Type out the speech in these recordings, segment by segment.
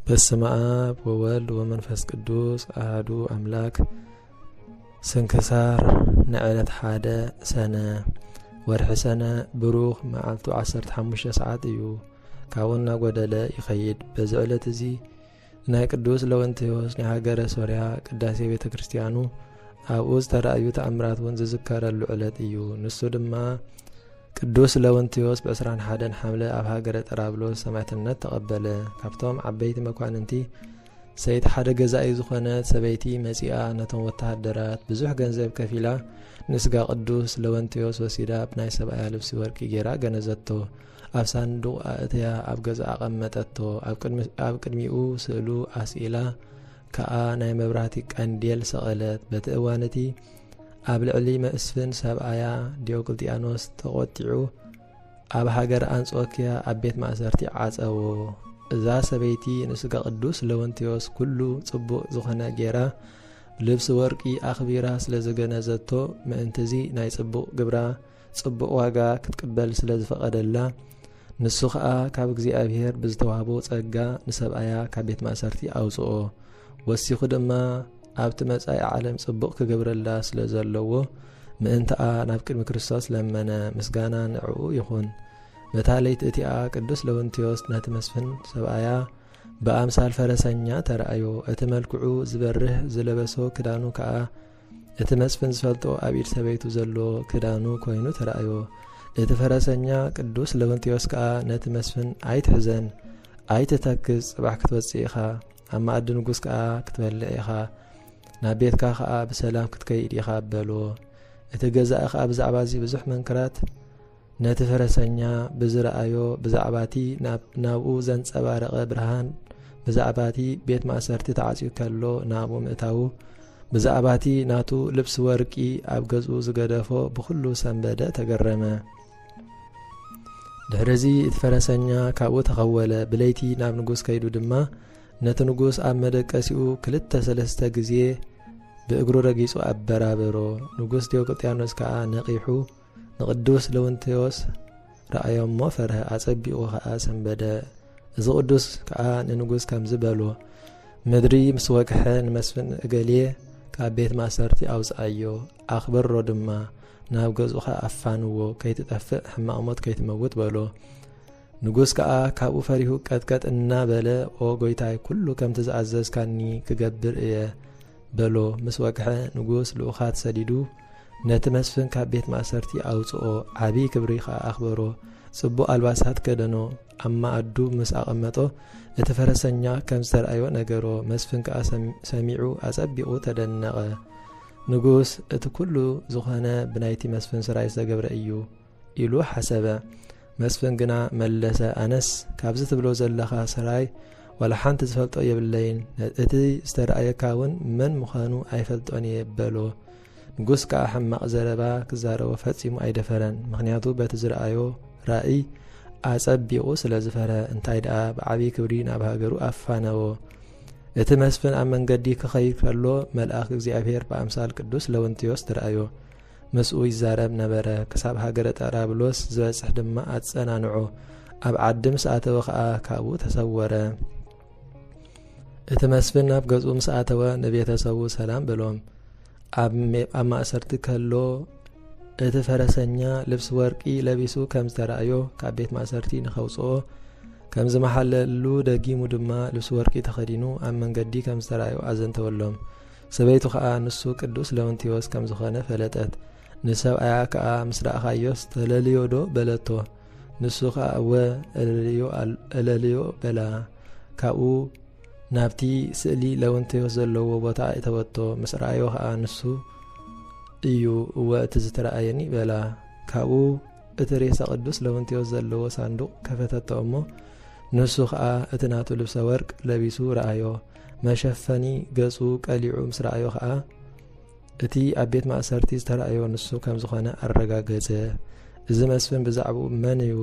በስመ አብ ወወልድ ወመንፈስ ቅዱስ አህዱ አምላክ። ስንክሳር ንዕለት ሓደ ሰነ ወርሒ ሰነ ብሩኽ መዓልቱ 15 ሰዓት እዩ። ካብኡ እናጎደለ ይኸይድ። በዚ ዕለት እዚ ናይ ቅዱስ ለወንቴዎስ ናይ ሃገረ ሶርያ ቅዳሴ ቤተ ክርስቲያኑ ኣብኡ ዝተራእዩ ተኣምራት እውን ዝዝከረሉ ዕለት እዩ። ንሱ ድማ ቅዱስ ለውንቲዮስ ብ ዕስራን ሓደን ሓምለ ኣብ ሃገረ ጠራብሎስ ሰማዕትነት ተቐበለ። ካብቶም ዓበይቲ መኳንንቲ ሰይቲ ሓደ ገዛኢ ዝኾነት ሰበይቲ መጺኣ ነቶም ወተሃደራት ብዙሕ ገንዘብ ከፊላ ንስጋ ቅዱስ ለወንቲዮስ ወሲዳ ብ ናይ ሰብኣያ ልብሲ ወርቂ ጌራ ገነዘቶ። ኣብ ሳንዱቕ ኣእትያ ኣብ ገዛኣ ኣቐመጠቶ። ኣብ ቅድሚኡ ስእሉ ኣስኢላ ከኣ ናይ መብራህቲ ቀንዴል ሰቐለት። በቲ እዋን እቲ ኣብ ልዕሊ መስፍን ሰብኣያ ዲዮቅልጥያኖስ ተቖጢዑ ኣብ ሃገር ኣንጾኪያ ኣብ ቤት ማእሰርቲ ዓጸዎ። እዛ ሰበይቲ ንስጋ ቅዱስ ለወንቴዎስ ኩሉ ጽቡቕ ዝኾነ ጌራ ልብሲ ወርቂ ኣኽቢራ ስለ ዝገነዘቶ ምእንትዚ ናይ ጽቡቕ ግብራ ጽቡቕ ዋጋ ክትቅበል ስለ ዝፈቐደላ ንሱ ኸኣ ካብ እግዚኣብሔር ብዝተዋህቦ ጸጋ ንሰብኣያ ካብ ቤት ማእሰርቲ ኣውጽኦ ወሲኹ ድማ ኣብቲ መጻኢ ዓለም ጽቡቕ ክገብረላ ስለ ዘለዎ ምእንትኣ ናብ ቅድሚ ክርስቶስ ለመነ ምስጋና ንዕኡ ይኹን በታ ለይቲ እቲኣ ቅዱስ ለውንትዮስ ነቲ መስፍን ሰብኣያ ብኣምሳል ፈረሰኛ ተረኣዮ እቲ መልክዑ ዝበርህ ዝለበሶ ክዳኑ ከኣ እቲ መስፍን ዝፈልጦ ኣብ ኢድ ሰበይቱ ዘሎ ክዳኑ ኮይኑ ተራእዮ። እቲ ፈረሰኛ ቅዱስ ለውንቲዮስ ከኣ ነቲ መስፍን ኣይትሕዘን፣ ኣይትተክዝ፣ ጽባሕ ክትወጽእ ኢኻ፣ ኣብ መኣዲ ንጉስ ከኣ ክትበልዕ ኢኻ፣ ናብ ቤትካ ከኣ ብሰላም ክትከይድ ኢኻ በሎ። እቲ ገዛኢ ከኣ ብዛዕባ እዚ ብዙሕ መንክራት ነቲ ፈረሰኛ ብዝረኣዮ ብዛዕባቲ ናብኡ ዘንጸባረቐ ብርሃን ብዛዕባቲ ቤት ማእሰርቲ ተዓጽዩ ከሎ ናብኡ ምእታዉ ብዛዕባቲ ናቱ ልብሲ ወርቂ ኣብ ገዝኡ ዝገደፎ ብዅሉ ሰንበደ ተገረመ ድሕርዚ እቲ ፈረሰኛ ካብኡ ተኸወለ ብለይቲ ናብ ንጉስ ከይዱ ድማ ነቲ ንጉስ ኣብ መደቀሲኡ ክልተ ሰለስተ ግዜ ብእግሩ ረጊጹ ኣበራበሮ ንጉስ ዲዮቅልጥያኖስ ከኣ ነቒሑ ንቅዱስ ለውንቴዎስ ረኣዮ እሞ ፈርሀ፣ ኣጸቢቑ ኸኣ ሰንበደ። እዚ ቅዱስ ከኣ ንንጉስ ከምዚ በሎ፣ ምድሪ ምስ ወግሐ ንመስፍን እገሌ ካብ ቤት ማእሰርቲ ኣውፅኣዮ ኣኽብሮ ድማ ናብ ገዝኡኻ ኣፋንዎ ከይትጠፍእ ሕማቕ ሞት ከይትመውት በሎ ንጉስ ከዓ ካብኡ ፈሪሁ ቀጥቀጥ እናበለ ኦ ጎይታይ ኩሉ ከምቲ ዝኣዘዝካኒ ክገብር እየ በሎ ምስ ወግሐ ንጉስ ልኡኻት ሰዲዱ ነቲ መስፍን ካብ ቤት ማእሰርቲ ኣውጽኦ፣ ዓብዪ ክብሪ ኸኣ ኣኽበሮ። ጽቡቕ ኣልባሳት ከደኖ፣ ኣብ መኣዱ ምስ ኣቐመጦ፣ እቲ ፈረሰኛ ከም ዝተርኣዮ ነገሮ፣ መስፍን ከኣ ሰሚዑ ኣጸቢቑ ተደነቐ። ንጉስ፣ እቲ ኩሉ ዝኾነ ብናይቲ መስፍን ስራይ ዝተገብረ እዩ። ኢሉ ሓሰበ መስፍን ግና መለሰ ኣነስ ካብዚ ትብሎ ዘለኻ ሰራይ ዋላ ሓንቲ ዝፈልጦ የብለይን እቲ ዝተረኣየካ እውን መን ምዃኑ ኣይፈልጦን እየ በሎ ንጉስ ከዓ ሕማቕ ዘረባ ክዛረቦ ፈፂሙ ኣይደፈረን ምክንያቱ በቲ ዝረኣዮ ራእይ ኣጸቢቑ ስለ ዝፈረ እንታይ ደኣ ብዓብዪ ክብሪ ናብ ሃገሩ ኣፋነዎ እቲ መስፍን ኣብ መንገዲ ክኸይድ ከሎ መልኣኽ እግዚኣብሔር ብኣምሳል ቅዱስ ለውንቲዮስ ትረኣዮ ምስኡ ይዛረብ ነበረ፣ ክሳብ ሃገረ ጣራብሎስ ዝበጽሕ ድማ ኣጸናንዖ፣ ኣብ ዓዲ ምስ ኣተወ ኸኣ ካብኡ ተሰወረ። እቲ መስፍን ናብ ገጹ ምስ ኣተወ ንቤተሰቡ ሰላም በሎም። ኣብ ማእሰርቲ ከሎ እቲ ፈረሰኛ ልብሲ ወርቂ ለቢሱ ከም ዝተራእዮ ካብ ቤት ማእሰርቲ ንኸውፅኦ ከም ዝመሓለሉ ደጊሙ ድማ ልብሲ ወርቂ ተኸዲኑ ኣብ መንገዲ ከም ዝተራእዮ ኣዘንተወሎም። ሰበይቱ ከኣ ንሱ ቅዱስ ለውንቲዎስ ከም ዝኾነ ፈለጠት። ንሰብኣያ ከኣ ምስ ረኣኻዮስ ተለልዮዶ በለቶ። ንሱ ከኣ እወ እለልዮ በላ። ካብኡ ናብቲ ስእሊ ለውንቲዎስ ዘለዎ ቦታ እተወቶ። ምስ ረኣዮ ከኣ ንሱ እዩ እወ እቲ ዝተረኣየኒ በላ። ካብኡ እቲ ሬሳ ቅዱስ ለውንቲዎስ ዘለዎ ሳንዱቕ ከፈተቶ እሞ ንሱ ከኣ እቲ ናቱ ልብሰ ወርቅ ለቢሱ ረኣዮ። መሸፈኒ ገጹ ቀሊዑ ምስ ረኣዮ ኸኣ እቲ ኣብ ቤት ማእሰርቲ ዝተረኣዮ ንሱ ከም ዝኾነ ኣረጋገጸ። እዚ መስፍን ብዛዕባኡ መን እዩ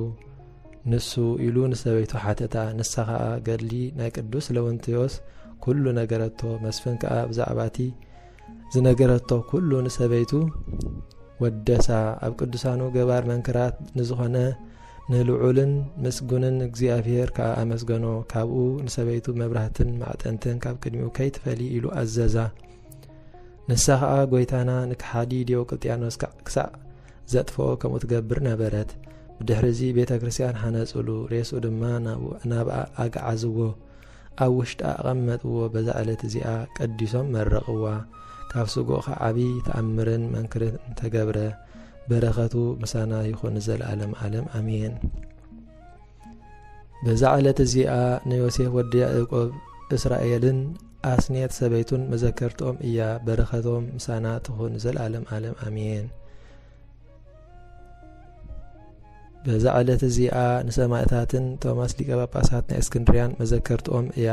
ንሱ ኢሉ ንሰበይቱ ሓተታ። ንሳ ኸኣ ገድሊ ናይ ቅዱስ ለውንትዮስ ኩሉ ነገረቶ። መስፍን ከኣ ብዛዕባ እቲ ዝነገረቶ ኩሉ ንሰበይቱ ወደሳ ኣብ ቅዱሳኑ ገባር መንክራት ንዝኾነ ንልዑልን ምስጉንን እግዚኣብሔር ከዓ ኣመስገኖ ካብኡ ንሰበይቱ መብራህትን ማዕጠንትን ካብ ቅድሚኡ ከይትፈሊ ኢሉ ኣዘዛ ንሳ ከዓ ጎይታና ንክሓዲ ዲዮቅልጥያኖስ ክሳዕ ዘጥፍኦ ከምኡ ትገብር ነበረት ብድሕሪ እዚ ቤተ ክርስትያን ሓነፅሉ ሬሱ ድማ ናብ ኣግዓዝዎ ኣብ ውሽጣ ኣቐመጥዎ፣ በዛ ዕለት እዚኣ ቀዲሶም መረቕዋ። ካብ ስግኡ ኸኣ ዓብዪ ተኣምርን መንክርን ተገብረ። በረኸቱ ምሳና ይኹን ንዘለኣለም ኣለም ኣሜን። በዛ ዕለት እዚኣ ንዮሴፍ ወዲ ያዕቆብ እስራኤልን ኣስኔት ሰበይቱን መዘከርትኦም እያ። በረኸቶም ምሳና ትኹን ንዘለኣለም ኣለም ኣሜን። በዛ ዕለት እዚኣ ንሰማእታትን ቶማስ ሊቀ ጳጳሳት ናይ እስክንድርያን መዘከርትኦም እያ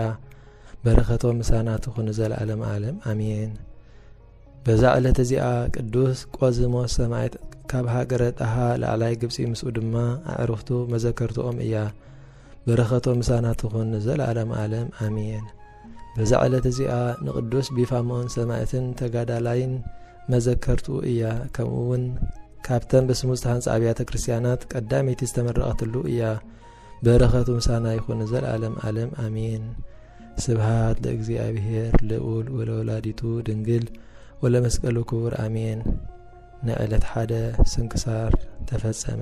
በረከቶም ምሳና ትኹን ዘለዓለም ዓለም ኣሜን በዛ ዕለት እዚኣ ቅዱስ ቆዝሞስ ሰማዕት ካብ ሃገረ ጣሃ ላዕላይ ግብፂ ምስኡ ድማ ኣዕርኽቱ መዘከርትኦም እያ በረኸቶ ምሳና ትኹን ንዘለኣለም ኣለም ኣሜን። በዛ ዕለት እዚኣ ንቅዱስ ቢፋሞን ሰማእትን ተጋዳላይን መዘከርትኡ እያ። ከምኡ እውን ካብተን ብስሙ ዝተሃንፃ ኣብያተ ክርስቲያናት ቀዳመይቲ ዝተመረቐትሉ እያ። በረኸቱ ምሳና ይኹን ዘለዓለም ዓለም ኣሜን። ስብሃት ለእግዚኣብሔር ልዑል ወለወላዲቱ ድንግል ወለመስቀሉ ክቡር ኣሜን። ንዕለት ሓደ ስንክሳር ተፈጸመ።